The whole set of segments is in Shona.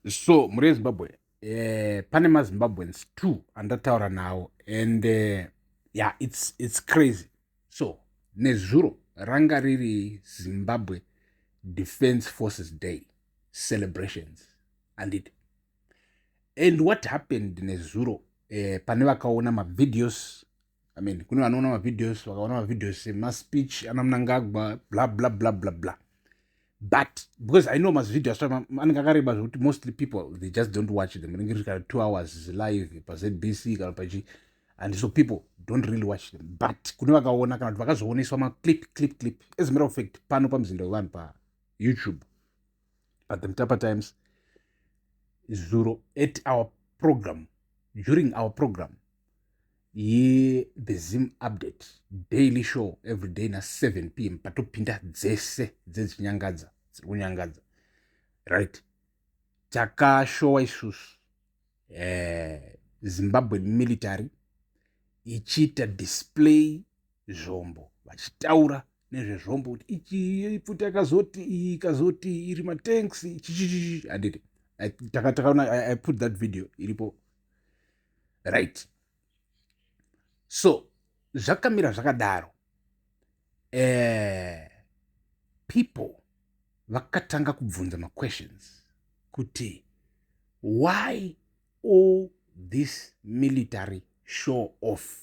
so mhuri yezimbabwe eh, pane mazimbabweans two andataura nawo and uh, eh, yeah, it's, it's crazy so nezuro ranga riri zimbabwe defense forces day celebrations anditi and what happened nezuro eh, pane vakaona mavideos i mean kune vanoona mavideos vakaona mavideos semaspeech ana munangagwa bla bla bla bla bla but because i know mazivideo aso anenge akareba zvekuti mostly people they just don't watch them rinenge riri kana two hours live pazbc kana pachi and so people don't really watch them but kune vakaona kana kuti vakazooneswa maclip clip clip as a matter of fact pano pamuzinda wevanhu payoutube but the mtapa times zuro at our program during our program yethe zim update daily show every day na7 p m patopinda dzese dzedzinyangadza dziri kunyangadza right takashowa isusu eh, zimbabwe military ichiita display zvombo vachitaura nezvezvombo kuti ichi pfuti yakazoti iyi ikazoti iri matanks chichichichi anditi takaona i put that video iripo right so zvakamira zvakadaro eh, people vakatanga kubvunza maquestions kuti why all this military show off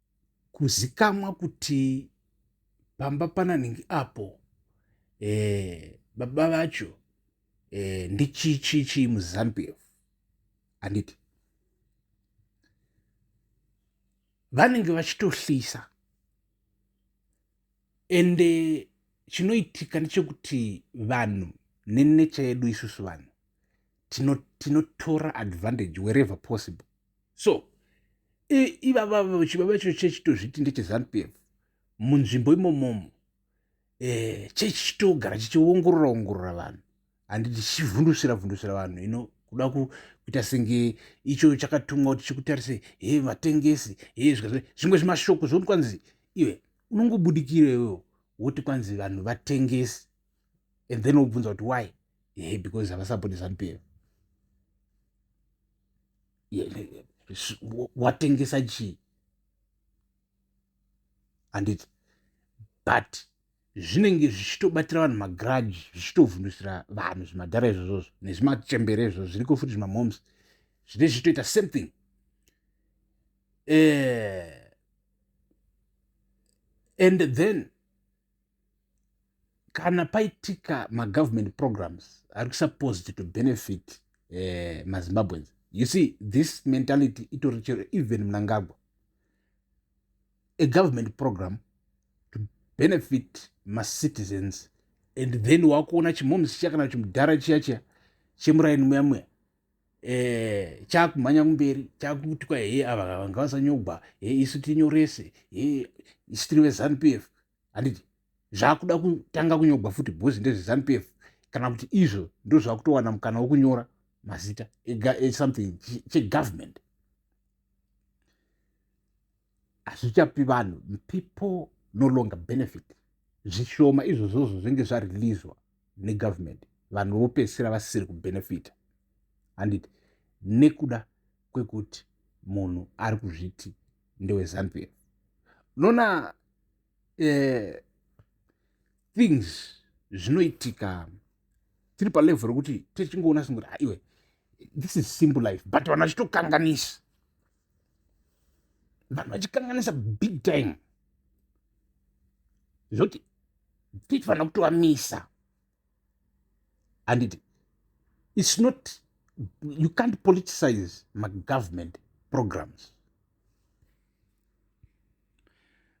kuzikamwa kuti pamba pananingi apo eh, baba vacho eh, ndichichichii muzambia handiti vanenge vachitohlisa ende chinoitika ndechekuti vanhu nenecha yedu isusu vanhu tinotora tino advantage wherever possible so ivavavo chivava icho chechitozviti ndechezanup f munzvimbo imomomo eh, chechi chitogara chichiongorora ongorora vanhu handi tichivhundusira vhundusira vanhu ino kuda kuita senge icho chakatumwa kuti chikutarise he vatengesi he zvimwe zvimashoko zvokuti kwanzi iwe unongobudikira iwewo woti kwanzi vanhu vatengesi and then wobvunza kuti why he because havasapoti zanup f watengesa chii handiti but zvinenge zvichitobatira vanhu magrudge zvichitovhundusira vanhu zvimadhara izvozvozvo nezvimachembere izvozvo zviriko futi zvimamoms zvine zvichitoita same thing eh, and then kana paitika magovernment programs ari supposed to benefit eh, mazimbabweans you see this mentality itori chero even munangagwa a government program to benefit macitizens and then wakuona chimomsi chiya kana chimudhara chiya chiya chemuraini muya muya eh, chakumhanya kumberi chakuitwa he ava vanga vasanyogwa he isu tinyorese he isu tiri vezanup f handiti zvakuda kutanga kunyogwa futi bhozi ndezvezanup f kana kuti izvo ndozvakutowana mukana wokunyora mazita something chegovernment hazvichapi vanhu people no longer benefit zvishoma izvozvozvo zvinge zvarelizwa negovernment vanhu vopedzisira vasisiri kubenefita handiti nekuda kwekuti munhu ari kuzviti ndewezambia unoona eh, things zvinoitika tiri palevel rekuti tichingoona singoti aiwe this is simple life but vanhu vachitokanganisa vanhu vachikanganisa big time zvoti tichifanira kutovamisa handiti its not you can't politicize magovernment programs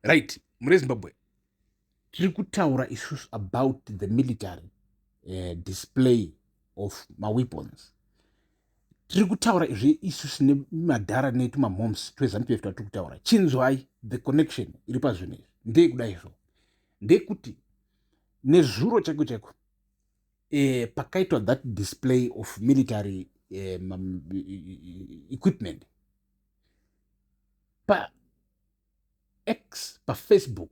right mure zimbabwe tiri kutaura isusu about the military uh, display of maweapons tiri kutaura izvi isusu nemadhara netu mamoms twezanu tuve twatiri kutaura chinzwai the connection iri pazvinhu izvi ndeye kuda izvo ndeyekuti nezuro chaiko chaiko eh, pakaitwa that display of military eh, equipment pa x pafacebook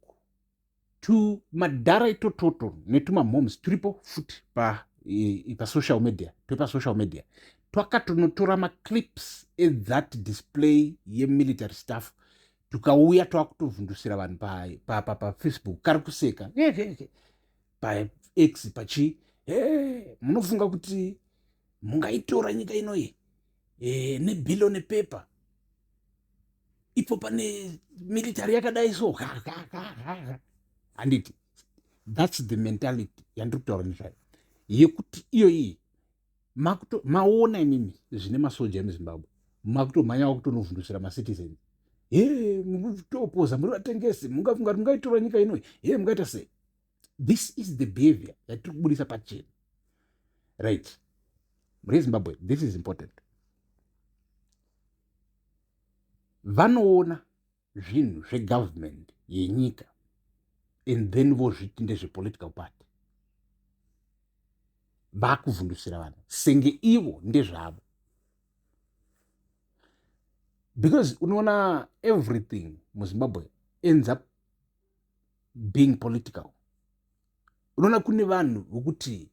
tumadhara itototo netumamhoms turipo futi pasocial media twepasocial media twakatonotora maclips ethat display yemilitary staff tukauya twava kutovhundusira vanhu pafacebook kari kuseka pax pachii munofunga kuti mungaitora nyika inoyi eh, nebillion paper ipo pane military yakadai so handiti thats the mentality yandiri kutaura nezvayo yekuti iyo iyi maona imimi zvine masoja emuzimbabwe makutomhanya wakutonovhundusira macitizens he mukutopoza muri vatengesi mungafunga kuti mungaitora nyika inoi he mungaita sei this is the behavior yatiri kubudisa pachena right rezimbabwe this is important vanoona zvinhu zvegovernment yenyika and then vozviti ndezvepolitical party vakuvhundusira vanhu senge ivo ndezvavo because unoona everything muzimbabwe ends up being political unoona kune vanhu vokuti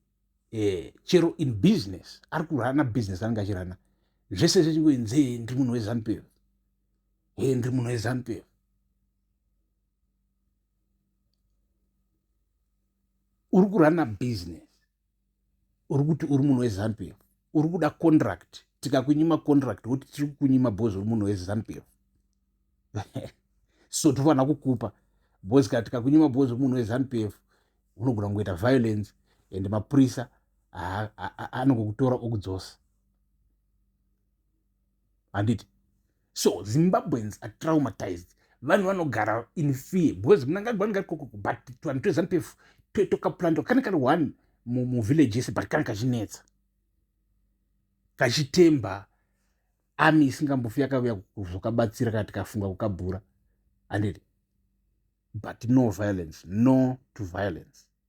eh, chero in business ari kurana business anenge achirana zvese zvechingoinzi hee ndiri munhu wezanupf hee ndiri munhu wezanupf uri kurana business uri kuti uri munhu wezanp uri kuda contract tikakunyima contract woti tiri kukunyima bos uri munhu wezanp so tofanira kukupa bos kana tikakunyima bos uri munhu wezanp unogona kungoita violence and mapurisa anongokutora okudzosa handiti so zimbabweans are traumatized vanhu vanogara in fear because mnangagwa ngari kokoko but tuvanhu twezanu pefu tokaplanto kane kari one muvillage yese but kana kachinetsa kachitemba ami isingambofi yakavuya zvokabatsira kana tikafunga kukabhura handiti but no violence no to violence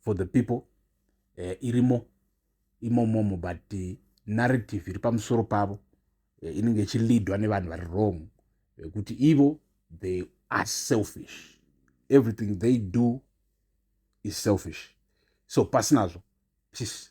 for the people eh, irimo imomomo but eh, narrative iri pamusoro pavo eh, inenge ichilidwa nevanhu vari wrong yekuti eh, ivo they are selfish everything they do is selfish so pasinazvo peace